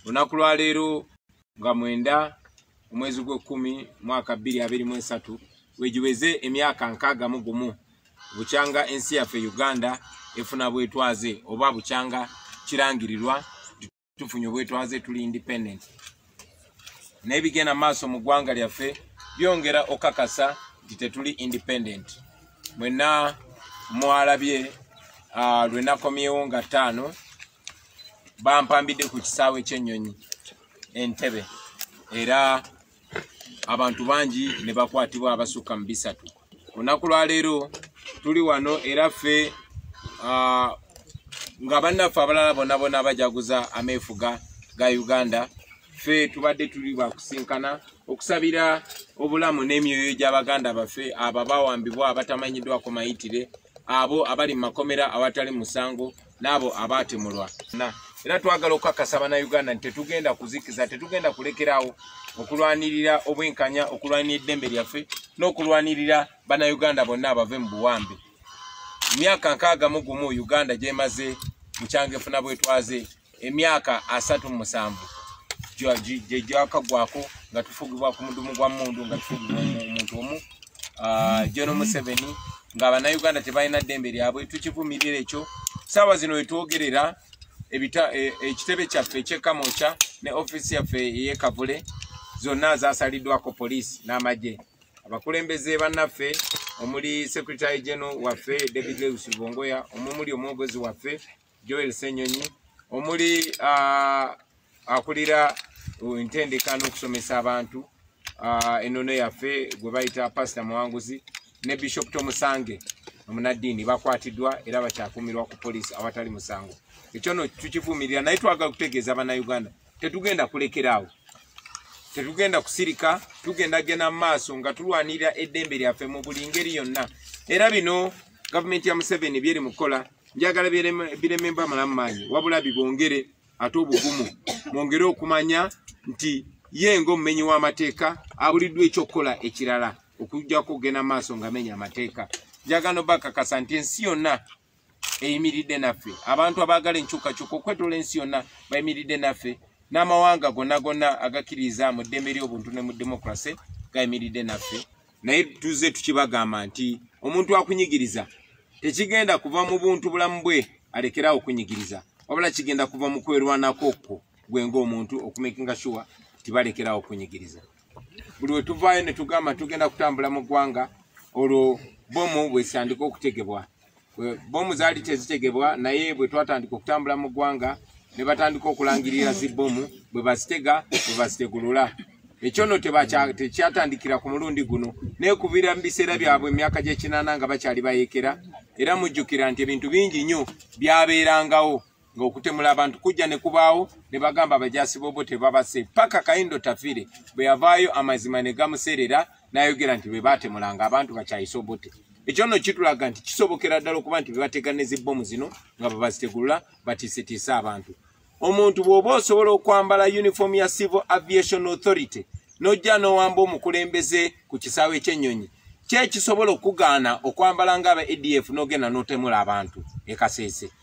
lunaku lwa leero nga mwenda omwezi gw'ekkumi mwaka bbiri abiri mu esatu wegiweze emyaka nkaaga mu gumu bukyanga ensi yaffe uganda efuna bwetwaze oba bukyanga kirangirirwa tufunye obwetwaze tuli independent naye bigenda maaso mu ggwanga lyaffe byongera okakasa nti tetuli independent mwena mwalabye ah, lwenakomyewo nga ttaano bampambidde ku kisaawe ky'ennyonyi entebe era abantu bangi ne bakwatibwa abasukka mu bisatu olunaku lwaleero tuli wano era ffe nga bannaffe abalala bona bona bajaguza ameefuga ga uganda ffe tubadde tuli bakusinkana okusabira obulamu n'emyoyo gy'abaganda baffe abo bawambibwa abatamanyiddwako mayitire abo abali mu makomera awatali musango n'abo abaatemulwa era twagala okukakasa bannayuganda nti tetugenda kuzikiza tetugenda kulekerawo okulwanirira obwenkanya okulwanira eddembe lyaffe n'okulwanirira bannayuganda bonna abave mu buwambe myaka nkaaga mu gumu uganda gyemaze mukyangefuna bwetwaze emyaka asatu mu musanvu gye gyakaggwako nga tufugibwa ku mudumu gwa mundu nga tufugibwa omuntu omu ah, jono museveni nga bannayuganda tebalina ddembe lyabwe tukivumirira ekyo saawa zino wetwogerera e, ekitebe kyaffe ekyekamokya ne ofiisi yaffe eyekavule zonna zasaliddwako poliisi n'amagye abakulembeze bannaffe omuli secretary general waffe david lewis lubongoya omumuli omwogezi waffe Joel Senyonyi omuli akulira entendeka n'okusomesa abantu enono yaffe gwe bayita pasita muwanguzi ne bishop tomusange omunaddiini bakwatiddwa era bakyakumirwa ku poliisi awatali musango ekyo no tukivumirira naye twagala okutegeeza bannayuganda tetugenda kulekeraawo tetugenda kusirika tugenda genda mu maaso nga tulwanirira eddembe lyaffe mu buli ngeri yonna era bino gavumenti ya museveni byeri mu kukola njagala birememba malamu maanyi wabula bibongere ate obugumu mwongere okumanya nti ye ngaomumenyi w'amateeka abuliddwa ekyokukola ekirala okujjako okugenda maaso nga menya amateeka njagala no bakakasa nti ensi yonna eyimiridde naffe abantu abaagala enkyukakyuka okwetoola ensi yonna bayimiridde naffe n'amawanga gonna gonna agakkiriza mu ddembe ly'obuntu ne mu demokrase gayimiridde naffe naye tuze tukibagamba nti omuntu akunyigiriza tekigenda kuva mu buntu bulamu bwe alekerawo okunyigiriza wabula kigenda kuva mu kwerwanako kwo gwe ngaomuntu okumakinga sure tibalekerawo okunyigiriza buli wetuvaayo netugamba tugenda kutambula mu ggwanga olwo bomu bwesandika okutegebwa bomu zaali tezitegebwa naye bwe twatandika okutambula mu ggwanga ne batandika okulangirira zibbomu bwe bazitega bwe bazitegulula ekyo no tekyatandikira ku mulundi guno naye kubira mu biseera byabwe emyaka gy'ekinaana nga bakyali bayekera era mujjukira nti ebintu bingi nnyo byabeerangawo ng'okutemula abantu kujja ne kubaawo ne bagamba abajaasi bobo tebabase paka kayindo tafire bwe yavaayo amazima ne gamuseerera n'ayogera nti be baatemulanga abantu bakyayise obote ekyo nno kitulaga nti kisobokera ddala okuba nti bebateganeza ebbomu zino nga bwe bazitegulula batiisetiise abantu omuntu bw'oba osobola okwambala uniform ya civil aviation authority n'ojja n'owamba omukulembeze ku kisaawe ky'ennyonyi kyekisobola okugaana okwambala nga aba adf n'ogenda n'otemula abantu ekaseese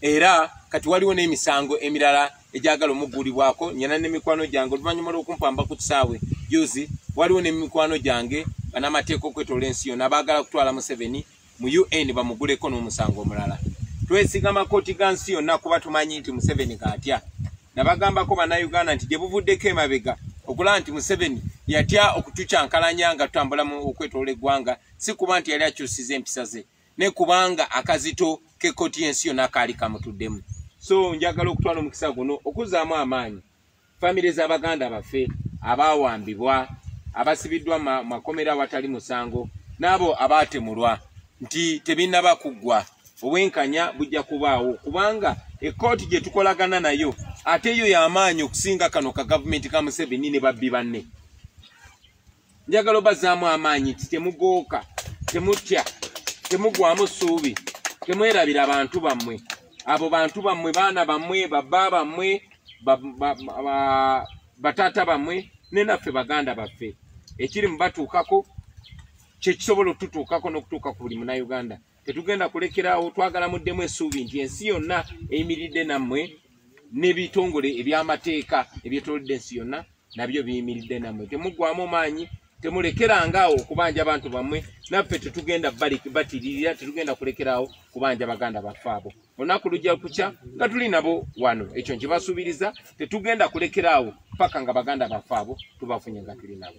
era kati waliwo n'emisango emirala egyagala omugulibwako nyana nemikwano gyange oluvanyuma lwokumpamba ku kisaawe juzi waliwo nemikwano gyange banamateeka okwetola ensi yona bagala kutwala museveni mu un bamuguleko n'omusango omulala twesiga makoti ga nsi yonna kuba tumanyi nti museveni gaatya nabagambako banauganda nti gyebuvuddeko emabega okulaba nti museveni yatya okutukyankalanya nga tutambulamu okwetola eggwanga si kuba nti yali akyusiza empisa ze ne kubanga akazito kekoti yensi yona kaali kamutuddemu so njagala okutwala omukisa guno okuzaamu amaanyi famire z'abaganda baffe abaawambibwa abasibiddwa makomera awatali musango n'abo abaatemulwa nti tebinaba kuggwa obwenkanya bujja kubaawo kubanga ekkooti gye tukolagana nayo ate yo y'amaanyi okusinga kano ka gavumenti ka museveni ne babbi banne njagala obazaamu amaanyi nti temugooka temutya temugwamu ssuubi temwerabira bantu bammwe abo bantu bammwe baana bammwe babba bammwe bataata bammwe ne naffe baganda baffe ekiri mu batuukako kyekisobola okututuukako n'okutuuka ku buli munauganda tetugenda kulekerawo twagala muddemu esuubi nti ensi yonna eyimiridde nammwe n'ebitongole eby'amateeka ebyetolodde ensi yonna nabyo biyimiridde nammwe temuggwamu maanyi temulekeranga awo okubanja abantu bammwe naffe tetugenda batiririra tetugenda kulekeraawo kubanja baganda baffe abo olunaku lujja kukya nga tuli nabo wano ekyo nkibasuubiriza tetugenda kulekeraawo paka nga baganda baffe abo tubafunye nga tuli nabo